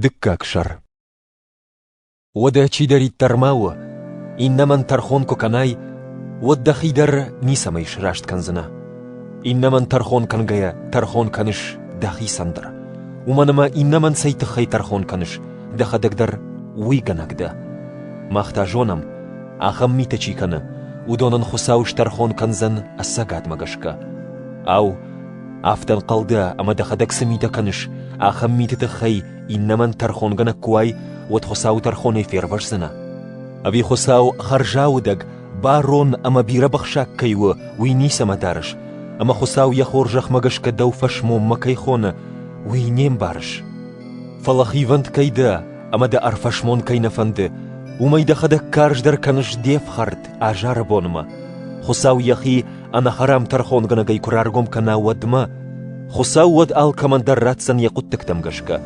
Дыккаг сӕр Уӕдӕ чидӕриддӕр ма у, иннӕмӕн тӕрхон куы кӕнай, уӕд дӕхи дӕр ницӕмӕй сраст кӕндзынӕ. Иннӕмӕн тӕрхон кӕнгӕйӕ тӕрхон кӕныс дӕхицӕн дӕр. Уымӕн ӕмӕ иннӕмӕн цӕй тыххӕй тӕрхон кӕныс, дӕхӕдӕг дӕр уый гӕнӕг дӕ. Мах та зонӕм, ахӕм митӕ чи кӕны, уыдонӕн Хуыцау стӕрхон кӕндзӕн ӕцӕгадмӕ гӕсгӕ. Ау, Афтӕ ӕнхъӕлгӕ, ӕмӕ дӕхӕдӕг цы митӕ кӕныс, ахӕм миты тыххӕй иннӕмӕн тӕрхонгӕнӕг куы уай, уӕд Хуыцау тӕрхонӕй фервӕздзынӕ. Ӕви Хуыцау хӕрзаудӕг, барон ӕмӕ бирӕбӕхсӕг кӕй у, уый ницӕмӕ дарыс, ӕмӕ Хуыцау йӕ хорзӕхмӕ гӕсгӕ дӕу фӕсмонмӕ кӕй хоны, уый не мбарыс? Фӕлӕ хивӕнд кӕй дӕ, ӕмӕ дӕ ӕрфӕсмон кӕй нӕ фӕнды, уымӕй дӕхӕдӕг карздӕр кӕныс де фхӕрд азары бонмӕ. Хуыцау йӕхи ӕнӕхӕрам тӕрхонгӕнӕгӕй куы раргом кӕна, уӕдмӕ Хуыцау уӕд алкӕмӕн дӕр ратдзӕн йӕ хъуыддӕгтӕм гӕсгӕ.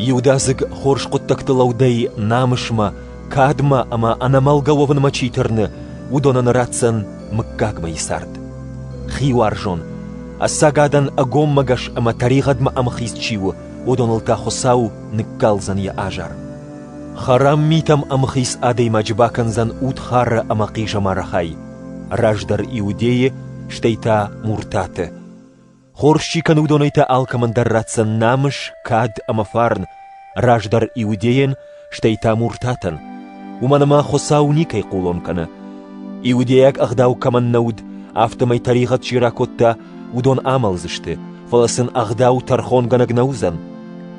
Иудадзыг хорз хъуыддӕгты лӕудӕй намысмӕ, кадмӕ ӕмӕ ӕнӕмӕлгӕ уӕвынмӕ чи тырны, уыдонӕн ратдзӕн мыггагмӕйы цард. Хиуарзон, ӕцӕг адӕн ӕгоммӕгӕс ӕмӕ тӕригъӕдмӕ ӕмхиц чи у, уыдоныл та Хуыцау ныккалдзӕн йӕ азар. Хӕрам митӕм ӕмхиц адӕймаджы бакӕндзӕн удхары ӕмӕ хъизӕмары хай, раздӕр иудейы, стӕй та муртаты. Хорз чи кӕны, уыдонӕй та алкӕмӕн дӕр ратдзӕн намыс, кад ӕмӕ фарн, раздӕр иудейӕн, стӕй та муртатӕн. Уымӕн ӕмӕ Хуыцау никӕй хъулон кӕны. Иудейаг ӕгъдау кӕмӕн нӕ уыд, афтӕмӕй тӕригъӕд чи ракодта, уыдон амӕлдзысты, фӕлӕ сын ӕгъдау тӕрхонгӕнӕг нӕ уыдзӕн.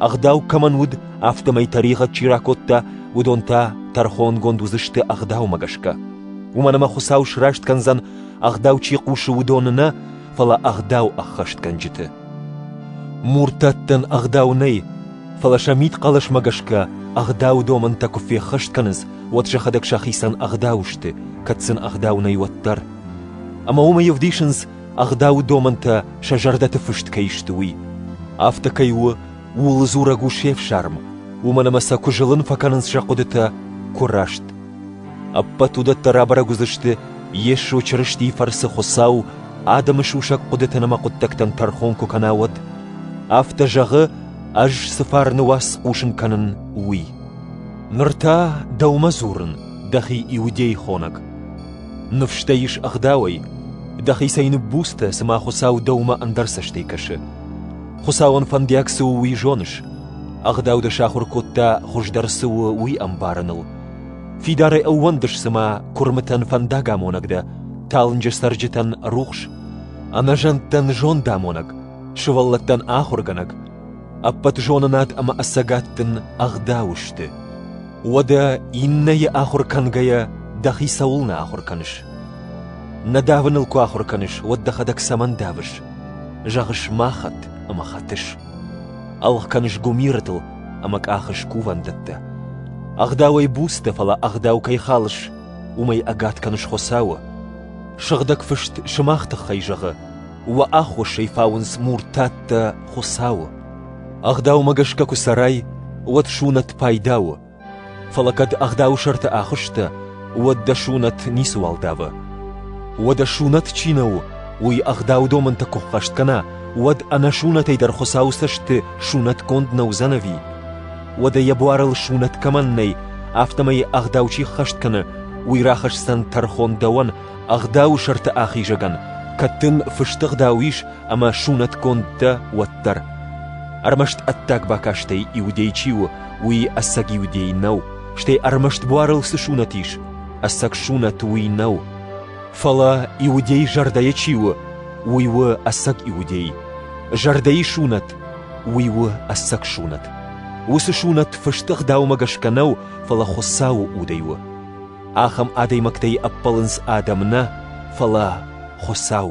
Ӕгъдау кӕмӕн уыд, афтӕмӕй тӕригъӕд чи ракодта, уыдон та тӕрхонгонд уыдзысты ӕгъдаумӕ гӕсгӕ. Уымӕн ӕмӕ Хуыцау сраст кӕндзӕн, ӕгъдау чи хъусы, уыдоны нӕ, фӕлӕ ӕгъдау ӕххӕстгӕнджыты. Муртаттӕн ӕгъдау нӕй, фӕлӕ сӕ мидхъӕлӕсмӕ гӕсгӕ ӕгъдау домӕнтӕ куы феххӕст кӕнынц, уӕд сӕхӕдӕг сӕхицӕн ӕгъдау сты, кӕд сын ӕгъдау нӕй, уӕддӕр. Ӕмӕ уымӕй ӕвдисынц, ӕгъдауы домӕнтӕ сӕ зӕрдӕты фыст кӕй сты, уый. Афтӕ кӕй у, ууыл дзурӕг у се фсарм, уымӕн ӕмӕ сӕ куы зылын фӕкӕнынц сӕ хъуыдытӕ, куы раст. Ӕппӕт уыдӕттӕ рабӕрӕг уыдзысты Йесо Чырыстийы фӕрцы Хуыцау адӕмы сусӕг хъуыдытӕн ӕмӕ хъуыддӕгтӕн тӕрхон куы кӕна, уӕд. Афтӕ зӕгъы, ӕз цы фарны уац хъусын кӕнын, уый. Ныр та дӕумӕ дзурын, дӕхи иудей хонӕг. Ныфстӕ ис ӕгъдауӕй, дӕхицӕй ныббуцтӕ, цыма Хуыцау дӕумӕ ӕндӕр цӕстӕй кӕсы. Хуыцауӕн фӕндиаг цы у, уый зоныс? Ӕгъдау дӕ сахуыр кодта, хуыздӕр цы у, уый ӕмбарыныл. Фидарӕй ӕууӕндыс, цыма куырмытӕн фӕндагамонӕг дӕ, талынджы цӕрджытӕн рухс, ӕнӕзӕндтӕн зондамонӕг, сывӕллӕттӕн ахуыргӕнӕг. Ӕппӕт зонынад ӕмӕ ӕцӕгад дын ӕгъдау сты. Уӕдӕ иннӕйы ахуыр кӕнгӕйӕ дӕхи цӕуылнӕ ахуыр кӕныс? Нӕ давыныл куы ахуыр кӕныс, уӕд дӕхӕдӕг цӕмӕн давыс? Зӕгъыс ма хӕтт ӕмӕ хӕтыс. Ӕлгъ кӕныс гуымирытыл ӕмӕ къахыс кувӕндӕттӕ. Ӕгъдауӕй буц дӕ, фӕлӕ ӕгъдау кӕй халыс, уымӕй ӕгад кӕныс Хуыцауы. Сыгъдӕг фыст сымах тыххӕй зӕгъы: «Уӕ аххосӕй фауынц муртаттӕ Хуыцауы». Ӕгъдаумӕ гӕсгӕ куы цӕрай, уӕд сунӕт пайда у. Фӕлӕ кӕд ӕгъдауы сӕрты ахуысстӕ, уӕд дӕ сунӕт ницыуал давы. Уӕдӕ сунӕт чи нӕ у, уый ӕгъдау домынты куы ххӕст кӕна, уӕд ӕнӕсунӕтӕй дӕр Хуыцауы цӕсты сунӕтгонд нӕ уыдзӕн ӕви? Уӕдӕ йӕ буарыл сунӕт кӕмӕн нӕй, афтӕмӕй ӕгъдау чи ххӕст кӕны, уый рахӕсдзӕн тӕрхон дӕуӕн Ӕгъдауы сӕрты ахизӕгӕн кӕд дын фыст ӕгъдау ис ӕмӕ сунӕтгонд дӕ, уӕддӕр. Ӕрмӕст ӕддаг бакастӕй иудей чи у, уый ӕцӕг иудей нӕу, стӕй ӕрмӕст буарыл цы сунӕт ис, ӕцӕг сунӕт уый нӕу. Фӕлӕ иудей зӕрдӕйы чи у, уый у ӕцӕг иудей. Зӕрдӕйы сунӕт уый у ӕцӕг сунӕт. Уыцы сунӕт фыст ӕгъдаумӕ гӕсгӕ нӕу, фӕлӕ Хуыцауы удӕй у. Ахӕм адӕймӕгтӕй ӕппӕлынц адӕм нӕ, фӕлӕ Хуыцау.